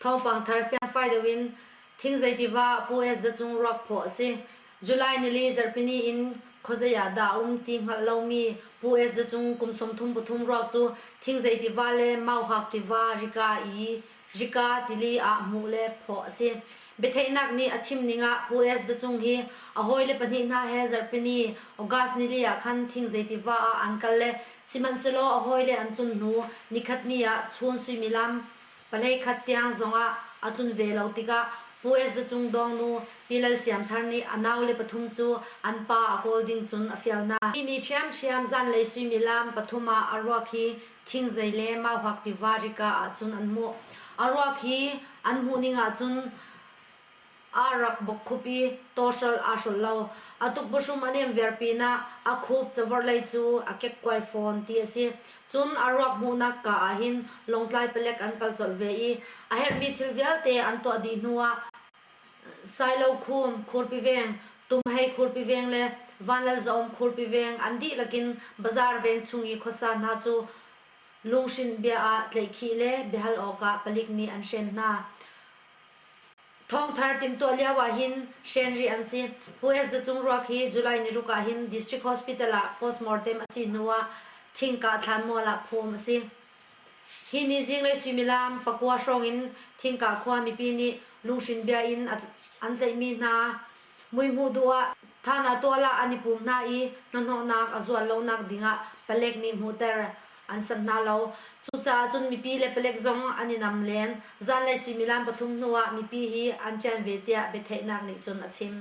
Thawngpang thar fiangfai deuh in thingzei tiva Pu S Za Cung ruak phaw a si. July nili zarhpini in khuazei ah dah a um ti hngalh lomi Pu S Za Cung kum sawmthum pathum ruak cu thingzei tiva le mauhak tiva, rika, i rika tili ah hmuh le phaw a si. Biatheihnak nih a chim ning ah US zacung hi a hawile pahnih hna he zarhpini, August nili, ah khan thing zei tiva ah an kal le sihmanhsehlaw a hawile an tlun hnu nikhat ni ah chun suimilam palei khat tiang zong ah a tlun ve lo tikah US zacung dawngnu Pi Lal Siam Thar nih a naule pathum cu an pa a kawl ding cun a fial hna. Hi ni ṭhiamṭhiam zanlei suimilam pathum ah a ruak hi thingzei le mauhak tiva rika ahcun an hmuh. A ruak hi an hmuh ning ahcun aa rak bawkkhup i tawhrolh aa hrolh lo. A tukpahrum a nem viar pinah a khup cavorh lei cu a kekkuai fawn ti a si. Cun a ruak hmuhnak kaa ah hin Lawngtlai palek an kal colh ve i a herhmi thil vialte an tuah dih hnuah Sailokhum khurpiveng, tum hei khurpiveng le vanlalzaawm khurpiveng an dihlak in bazaar veng chung i khuasa hna cu lunghrinh bia ah tleihkhih le biahal awkah palik nih an hren hna. Thawngthar timh tuah lio ahhin hren rih an si. US zacung ruak hi July niruk ahhin District Hospital ah postmortem a si hnuah thingkah thlanmual ah phum a si. Hi ni zinglei suimilam pakua hrawng in Thingkah khua mipi nih lunghrin bia in an tlaihmi hna muihmuh duh ah than ah tual ah an i pum hna i hnahnawhnak a zual lonak ding ah palek nih hmuhter an sanh hna lo. Cucaah cun mipi le palek zong an i nam len. Zanlei suimilam pathum hnu ah mipi hi an ṭian ve tiah biatheihnak nih cun a chim.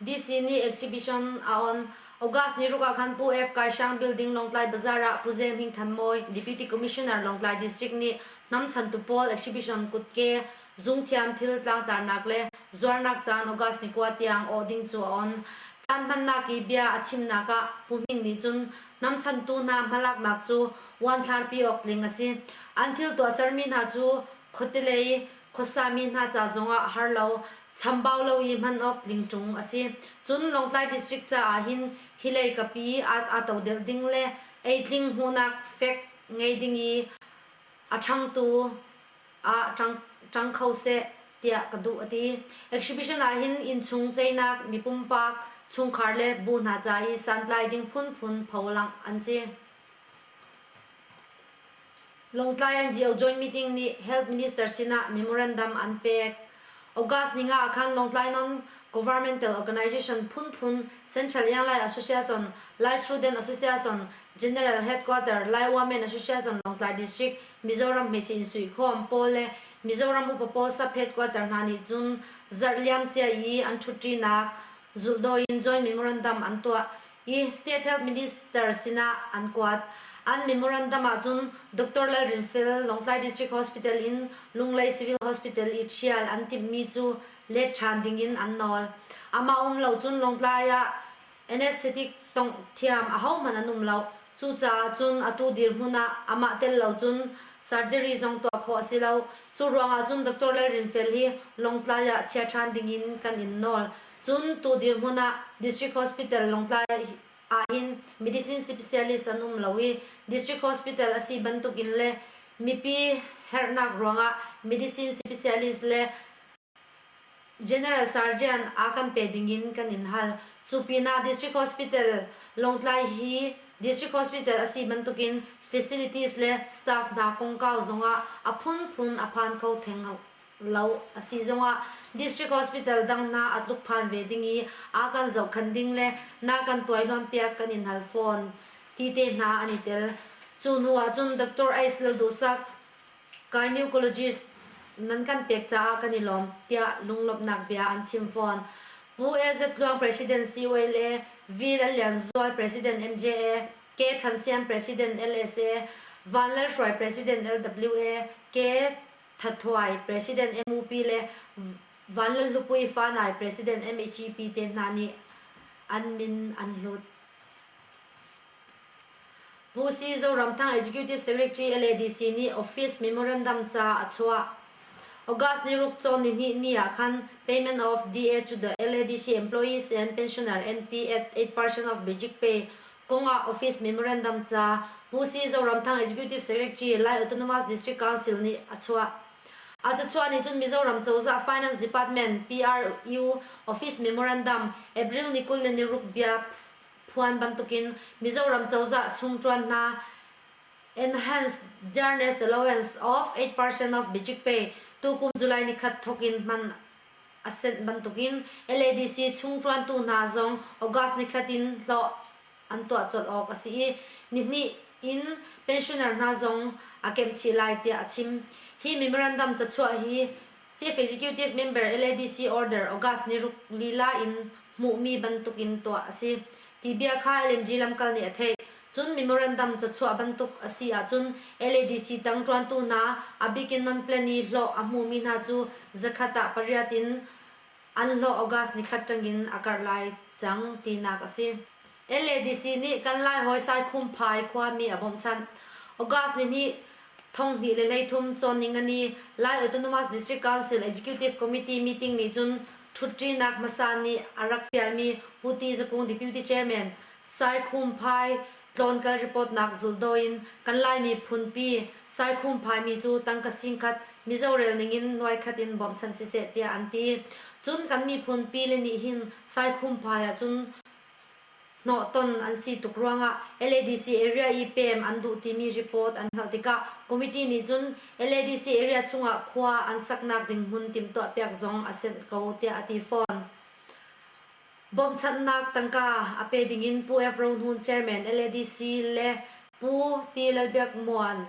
DC nih exhibition a on. August ni ruk ah khan Pu F. Kaisang Building Lawngtlai Bazaar ah Pu Ze Hming Tham Mawi, Deputy Commissioner Lawngtlai District nih hnamchantu pawl exhibition kutke, zungthiam thil tlangtarnak le zuarnak caan August ni kua tiang awh ding cu a on. Caan hmannak i bia a chimnak ah Pu Hming nih cun hnamchantu hna hmalaknak cu uanthlarpi awk tling a si. An thil tuahsermi hna cu khuate lei Khuasami hna ca zongah har lo, chambau lo i hman awk tling ṭung a si. Cun Lawngtlai District caah hin hi lei kapi aa todelh ding le eitling hmuhnak fek ngei ding i a ṭhangtu ah ṭang kho seh tiah ka duh a ti. Exhibition ah hin innchung ceinak, mipumpak, chungkhar le bu hna ca i santlai ding phunphun pholangh an si. Lawngtlai an Geo Joint Meeting nih Health Minister sinah memorandum an pek. August ni nga ah khan Lawngtlai non-governmental organization phunphun Central Ianglai Association, Lai Student Association, General Headquarter, Lai Women Association Lawngtlai District, Mizoram hmeichih in suikhawm pawl le Mizoram upa pawl sub-headquarter hna nih cun zarh liam cia i an ṭhutṭinak zulhdawi in joint memorandum an tuah. hi State Health Minister sinah an kuat. An memorandum ahcun Doctor Lalrinfel Lawngtlai District Hospital in Lunglei Civil Hospital i ṭhial an timhmi cu let ṭhan dingin an nawl. Amah um lo cun Lawngtlai ah Anesthetic tongh thiam ahohmanh an um lo. Cucaah cun atu dirhmun ah amah tel lo cun surgery zong tuah khawh a si lo. Cu ruangah cun Doctor Lalrinfel hi Lawngtlai ah chia ṭhan dingin kan in nawl. Cun tu dirhmun ah District Hospital Lawngtlai ahhin medicine specialist an um lo i District Hospital a si bantukin le mipi herhnak ruangah medicine specialist le general surgeon aa kan pe dingin kan in hal. Cu pinah District Hospital Lawngtlai hi District Hospital a si bantukin facilities le staff hna kongkau zongah a phunphun a phan kho theng lo a si zongah District Hospital dang hna a tluk phan ve ding i a kan zohkhan ding le na kan tuailuanpiak kan in hal fawn ti te hna an i tel. Cu hnu ahcun Dr. Ace Lalduhsak gynecologist nan kan pek caah kan i lawm tiah lunglawmhnak bia an chim fawn. Pu LZ Tluang President COLA, V Lal Lian Zual President MJA, K Than Siam President LSA, Van Lal Hruai President LWA, K Thathuai President MUP le Vanlalhlupuii Fanai President MECP te hna nih an min an hlut. Pu Si Zoramthang Executive Secretary LADC nih office memorandum ca a chuah. August ni ruk cawn ni hnih ni ah khan payment of DA to the LADC employees and pensioner NP at 8% of basic pay kongah office memorandum ca Hmusi Zoramthang Executive Secretary Lai Autonomous District Council nih a chuah. A cachuah nih cun Mizoram Cozah Finance Department, PRU, office memorandum April ni kul le ni ruk biak phuan bantukin Mizoram Cozah chung ṭuan hna Enhanced Journalist Allowance of 8% of budget pay tukum July ni khat thawk in hman a senh bantukin LADC chung ṭuantu hna zong August nikhat in hlawh an tuah colh awk a si i, nihnih in pensioner hna zong aa kemhchih lai tiah a chim. Hi memorandum cachuah hi Chief Executive member LADC order August ni ruk lila in hmuhmi bantukin tuah a si ti bia kha LMG lamkal nih a theih. Cun memorandum cachuah bantuk a si ahcun LADC tang ṭuantu hna, a bik in non-plan i hlawh a hmumi hna cu zakhat ah pariat in an hlawh August ni khat ṭangin a karh lai cang tinak a si. LADC nih kan Lai hawi Saikhumphai khuami a bawmhchanh. August ni hnih, thonghnih le hleithum cawnning a ni. Lai Autonomous District Council Executive Committee meeting nih cun ṭhutṭinak hmasa nih a rak fialmi Pu Ti Za Kung Deputy Chairman, Saikhumphai Tlawn-kal ripawtnak zulhdaw in kan Laimi phunpi Saikhumphai-mi cu tangka singkhat Mizo rel ningin nuaikhat in bawmhchanh siseh tiah an ti. Cun kan miphun pile nih hin Saikhumphai ahcun hnawhton an si tuk ruangah LADC area i pem an duh timi report an hngalh tikah committee nih cun LADC area chungah khua an saknak ding hmun timhtuahpiak zong a senh ko tiah a ti fawn. Bawmhchanhnak tangka a pe dingin Pu F. Rohnun Chairman LADC le Pu Ti Lalbiak Muan,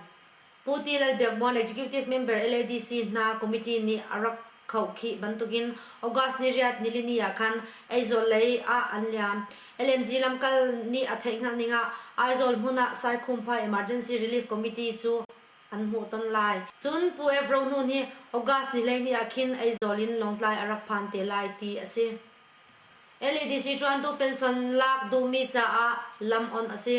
Pu Ti Lalbiak Muan Executive Member LADC hna committee nih a rak khauh khih bantukin August ni riat nilini ah khan Aizawl lei ah an liam. LMG lamkal nih a theihhngalh ning ah Aizawl hmun ah Saikhumphai Emergency Relief Committee cu an hmuh ton lai. Cun Pu Evro nu nih August nilengni ah khin Aizawl in Lawngtlai a rak phan te lai ti a si. LEDC ṭuantu pension lak duhmi caah lam-on a si.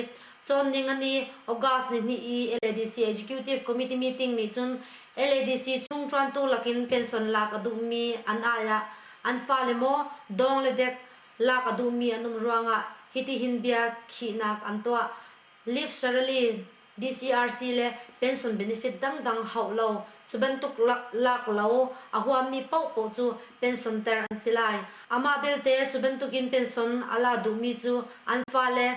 Cawn ning a ni, August ni hnih i LEDC Executive Committee meeting nih cun LEDC chung ṭuantu lakin pension lak a duhmi an ai ah an fale maw dawng le dek lak a duhmi an um ruangah hitihin bia khihnak an tuah, Live Sarali, DCRC le pension benefit dangdang hauh lo, cu bantuk lak lo a huammi paohpaoh cu pension ter an si lai. Amah belte, cu bantukin pension a la duhmi cu an fale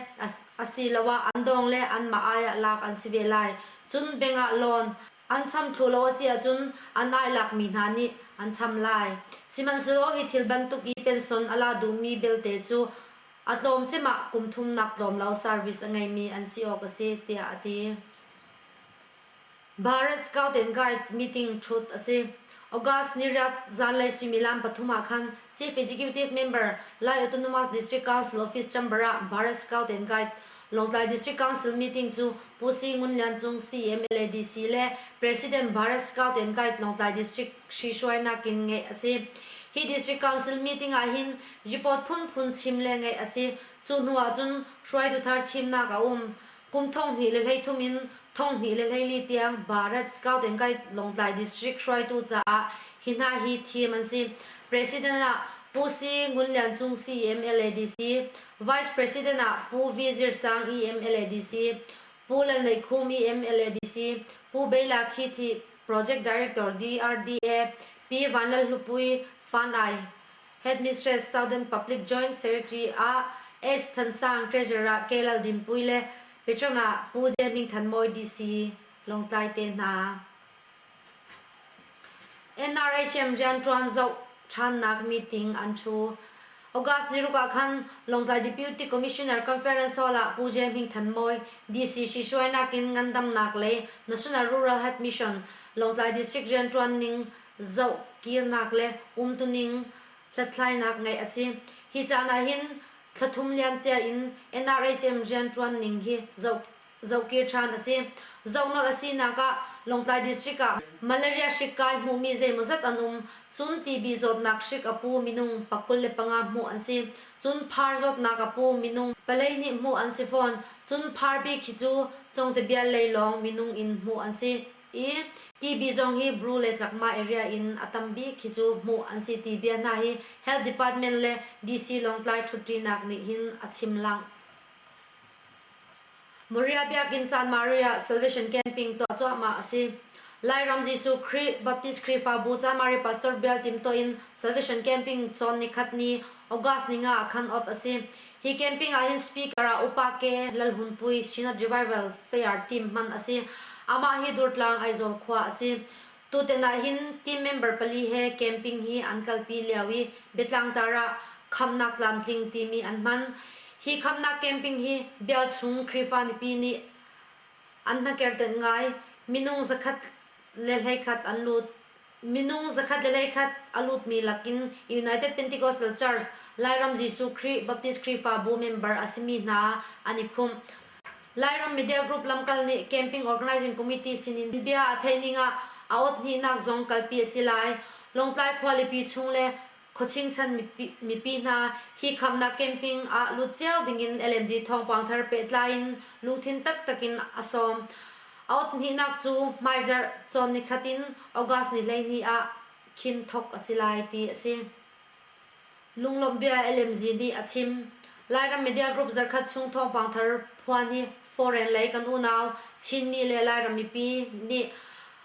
asiloah an dawng le anmah ai ah lak an si ve lai. Cun bank ah loan an cham thlu lo a si ahcun an ai lakmi hna nih an cham lai. Sihmanhsehlaw hi thil bantuk i pension a la duhmi belte cu A tlawmcem ah kum thumnak tlawmlo service a ngeimi an si awk a si tiah a ti. Bharat Scout and Guide meeting thut a si. August ni riat zanlei suimilam pathum ah khan Chief Executive Member Lai Autonomous District Council Office Chamber ah Bharat Scout and Guide Lawngtlai District Council meeting cu Pu Si Ngun Lian Cung CMLADC le President Bharat Scout and Guide Lawngtlai District hri hruainak in ngeih a si. Hi District Council meeting ah hin Report phunphun chim le ngeih a si. Cu hnu ahcun hruaitu thar thimnak a um. Kum thong hnih le hleithum in thong hnih le hleili tiang Bharat Scout and Guide Lawngtlai District hruaitu caah hi hna hi thim an si. President ah Pu Si Ngun Lian Cung CEM LADC, Vice President ah Pu V Zir Sang EM LADC, Pu Lal Nei Khum EM LADC, Pu Bei La Khi Thi, Project Director DRDA, Pi Van Lal Hlupui, Fan I, Headmistress Southern Public Joint Secretary ah Ess Than Sang, Treasurer ah Ke Lal Dinpui le Patron ah Pu Je Ming Than Mawi DC Lawngtlai te hna. NRHM rianṭuan zoh ṭhannak meeting an ṭhu. August ni ruk ah khan Lawngtlai Deputy Commissioner Conference Hall ah Pu Je Ming Than Mawi DC si hruainak in ngandamnak lei National Rural Health Mission Lawngtlai District rianṭuan ning zoh, kirnak le umtuning hlathlainak ngeih a si. Hi caan ahhin thla thum liamcia in NRHM rianṭuan ning hi zohkir ṭhan a si. Zohnawh a sinak ah Lawngtlai District ah malaria hrik kai hmuhmi zeimawzat an um. Cun TB zawtnak hrik a pu minung pa kul le panga hmuh an si. Cun phar zawtnak a pu minung palei nih hmuh an si fawn. Cun phar bik khi cu Congte Bial lei lawng minung in hmuh an si. I Tibi zong hi Bru le Chakma area in a tam bik khi cu hmuh an si ti bia hna hi Health Department le DC Lawngtlai ṭhutṭinak nih hin a chim langh. Maria Biakinn caan Maria Salvation Camping tuah cuahmah a si. Lairam Jesuh Khrih Baptist Khrihfabu Camari Pastor Bial timtuah in Salvation Camping cawn ni khat ni August ni nga ah khan awt a si. Hi camping ah hin speaker ah Upa Ke Lalhunpui Synod Revival Fayar team hman a si. Amah hi Durtlang Aizawl khua a si. Tuten ah hin team member pali he camping hi an kalpi lio i Biatlangtar ah Khamhnak Tlamtling timi an hman. Hi Khamhnak camping hi bialchung Khrihfa mipi nih an hnakertenh ngai. Minung zakhat le hlei khat an lut. Minung zakhat le leikhat a lutmi lakin United Pentecostal Church, Lairam Jesuh Khrih Baptist Khrihfabu member a simi hna an i khumh. Lairam Media Group lamkal nih Camping Organizing Committee sinin bia a theih ning ah a awthnihnak zong kalpi a si lai. Lawngtlai khualipi chung le Khuachingchan mipi hna hi khamhnak camping ah lut cio dingin LMD thawngpang thar pehtlai in lungthin taktak in a sawm. A awthnihnak cu hmaizarh cawn nikhat in August ni hleihnih ah khin thawk a si lai ti a si. Lunglawmh bia LMZ nih a chim. Lairam media group zarkhat chung thawngpang thar phuan hi foreign lei kan unau Chinmi le Lairam mipi nih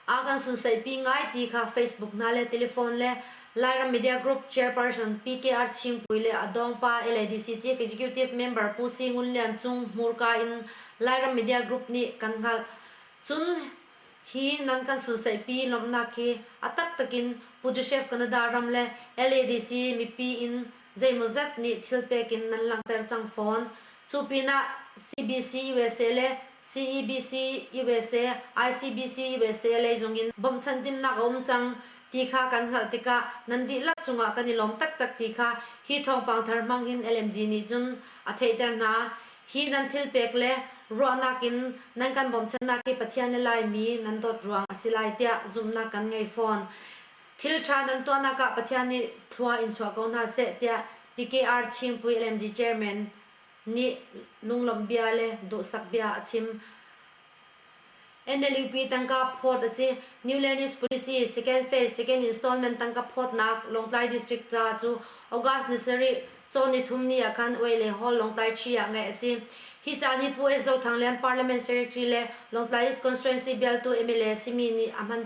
A kan sunsaihpi ngai ti kha Facebook hna le telephone le Lairam Media Group Chairperson PKR Chingpui le a dawngpa LADC Chief Executive Member Pu Si Ngun Lian Cung hmurka in Lairam Media Group nih kan hngalh. Cun hi nan kan sunsaihpi lawmhnak hi a taktak in Pu Joseph Canada ram le LADC mipi in Zeimawzat nih thilpek in nan langhter cang fawn. Cu pinah CBC usa le CEBC usa, ICBC usa lei zongin bawmhchanh timhnak a um cang ti kha kan hngalh tikah nan dihlak cungah kan i lawm taktak ti kha hi thawngpang thar hmang in LMG nih cun a theihter hna. Hi nan thilpek le ruahnak in nan kan bawmchannak hi Pathian le Laimi nan dawt ruang a si lai tiah zumhnak kan ngei fawn. Thil ṭha nan tuahnak ah Pathian nih thlua in chuah ko hna seh tiah PKR Chingpui LMD Chairman nih lunglawmhbia le duhsak bia a chim. NLUP tangka phawt a si. New Lenis policy second phase second installment tangka phawtnak Lawngtlai district ca cu August ni sarih cawn ni thum ni ah khan Oi le Hall Lawngtlai Ṭhi ah ngaih a si. Hi ca nih Pu S. Zo Thang le Parliament Secretary le Lawngtlai East Constituency bialtu mla simi nih a hman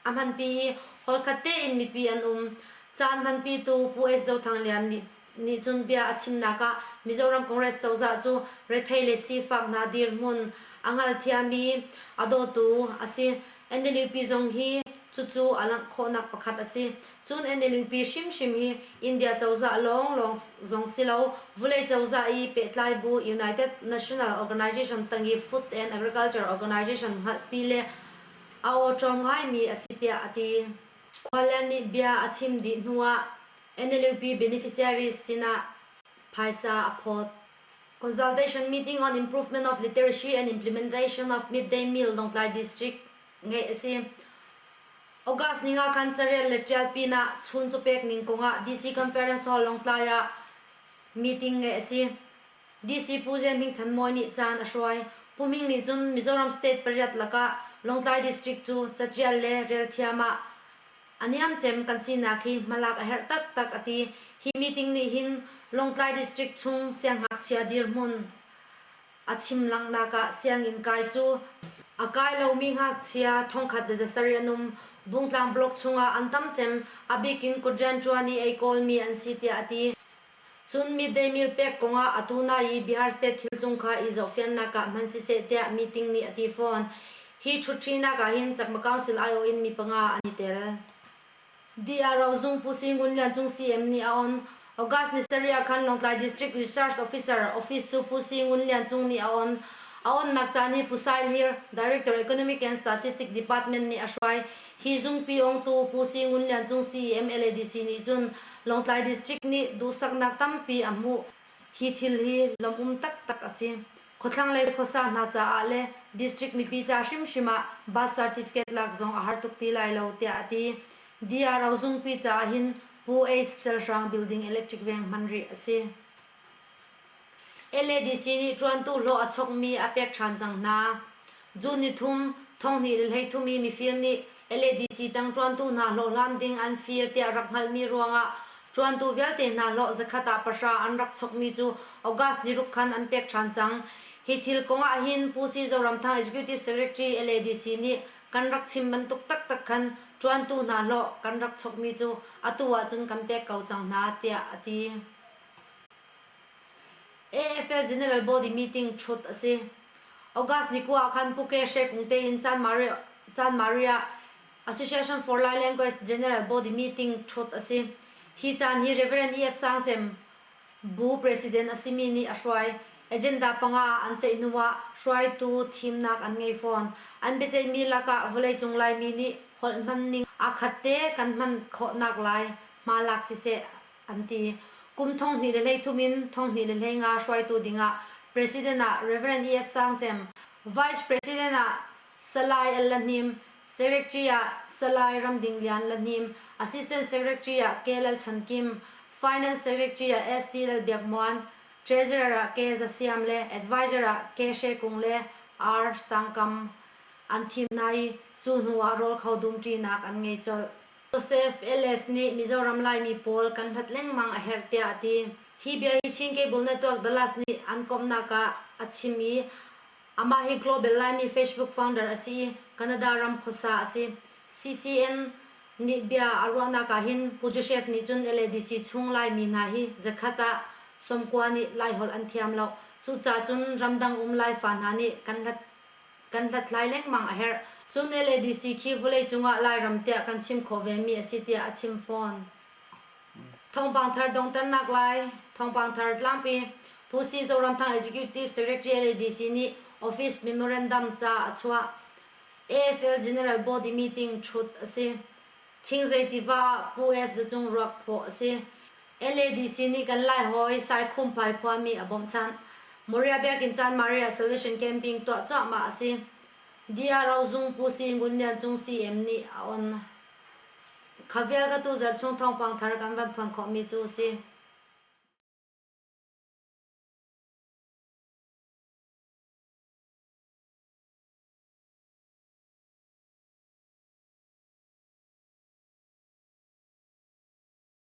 A hmanpi i holkhat tein mipi an um. Caan hmanpitu Pu Es Zo Thang Lian nih nih cun bia a chimnak ah Mizoram Congress cozah cu rethei le sifak hna dirhmun a hngalthiami a dawtu a si. NLUP zong hi cucu a langh khawhnak pakhat a si. Cun NLUP hrimhrim hi India cozah lawnglawng zong si lo, vulei cozah i pehtlai bu United National Organisation tang i Food and Agriculture Organisation hngalhpi le a awṭawm ngaimi a si tiah a ti. Khualian nih bia a chim dih hnuah NLUP beneficiaries sinah phaisa a phawt. Consultation meeting on improvement of literacy and implementation of midday meal Lawngtlai district ngeih a si. August ni nga khan carel le ṭial pinah chun cu pek ning kongah DC Conference Hall Lawngtlai ah meeting ngeih a si. DC Pu Ze Hming Than Mawi nih caan a hruai. Pu Ming nih cun Mizoram State pariat lakah Lawngtlai District cu catial le rel thiam ah a niamcem kan sinak hi hmalak a herh taktak a ti. Hi meeting nih hin Lawngtlai District chung sianghngakchia dirhmun a chim langhnak ah sianginn kai cu a kai lomi ngakchia thongkhat le zasarih an um. Bungtlang block chungah an tam cem, a bik in kut rianṭuan i ei kawlmi an si tiah a ti. Cun midday meal pek kong ah atu lai i Bihar State thiltlung kha i zohfiannak ah hman siseh tiah meeting nih a ti fawn. Hi ṭhutṭhinak ah hin Chakma Council aiawh in mi panga an i tel. DRO Zung Pu Si Ngun Lian Cung CM nih a on. August ni sarih ah khan Lawngtlai District Research Officer office cu Pu Si Ngun Lian Cung nih a on. A onnak caan hi Pu Sai Hlir, Director Economic and Statistic Department nih a hruai. Hi zungpi ongtu Pu Si Ngun Lian Cung si MLADC nih cun Lawngtlai District nih duhsaknak tampi a hmuh. Hi thil hi lawmum taktak a si. Khuathlanglei khuasa hna caah le District mipi ca hrimhrim ah Birth Certificate lak zong a har tuk ti lai lo, tiah a ti. DRO zungpi caah hin Pu Aids Celhrang Building Electric Veng hman rih a si. LADC nih ṭuantu hlawh a chawkmi a pek ṭhan cang hna. June ni thum, thonghnih le hleithum i mifir nih LADC tang ṭuantu hna hlawhhlam ding an fir tiah rak hngalhmi ruangah ṭuantu vialte hna hlawh zakhat ah pahra an rak chawkmi cu August ni ruk khan an pek ṭhan cang. Hi thil kong ahhin Pu Si Zoramthang Executive Secretary LADC nih kan rak chim bantuk taktak khan ṭuantu hna hlawh kan rak chawkmi cu atu ahcun kan pek ko cang hna tiah a ti. AFL General Body meeting thut a si. August ni kua ah khan Puke She Kung tein Chan Maria Association for Lai Language General Body meeting thut a si. Hi caan hi Reverend E.F. Sang Cem bu president a simi nih a hruai. Agenda panga an ceih hnu ah hruaitu thimnak an ngei fawn. An biaceihmi lakah vawleicung Laimi nih holh hman ning aa khat te kan hman khawhnak lai hmalak siseh an ti. Kum thonghnih le hlei thum in thonghnih le hlei nga hruaitu dingah President ah Rev. EF. Sang Cem, Vice President ah Salai Al La Hnim, Secretary ah Salai Ramding Lian La Hnim, Assistant Secretary ah Ke Lal Chan Kim, Finance Secretary ah ST Lal Biak Muan, Treasurer ah Ke Za Siam le Advisor ah Ke Hre Kung le R. Sang Kam an thim hna i cu hnu ah rawl kho dumṭinak an ngei colh. Josef Ellis nih Mizoram Laimi pawl kan hlat lengmang a herh tiah a ti. Hi bia hi Chin Cable Network Dallas nih an komhnak ah a chim i, amah hi Global Laimi Facebook founder a si i, Canada ram khuasa a si. CCN nih bia a ruahnak ahhin Pu Joseph nih cun LADC chung Laimi hna hi zakhat ah sawmkua nih Laiholh an thiam loh. Cucaah cun ramdang um Laifa hna nih kan hlat kan hlathlai lengmang a herh. Cun LADC khi vuleicung ah Lairam tiah kan chim khawh vemi a si tiah a chim fawn. Thawngpang thar donghter naklai thawngpang thar tlangpi Pu Si Zoramthang Executive Secretary LADC nih office memorandum ca a chuah. AFL General Body Meeting ṭhut a si. Thing zei tiva Pu. S. Za Cung ruak phawh a si. LADC nih kan Laihawi Saikhumphai khuami a bawmhchanh. Maria Biakinn caan Maria Salvation Camping tuah cuahmah a si. Dya Rozung Pu Si Ngun Lian Cung CM nih a on. Kha vialte tu Zarhchung thawngpang thar kan van phuan khawhmi cu a si.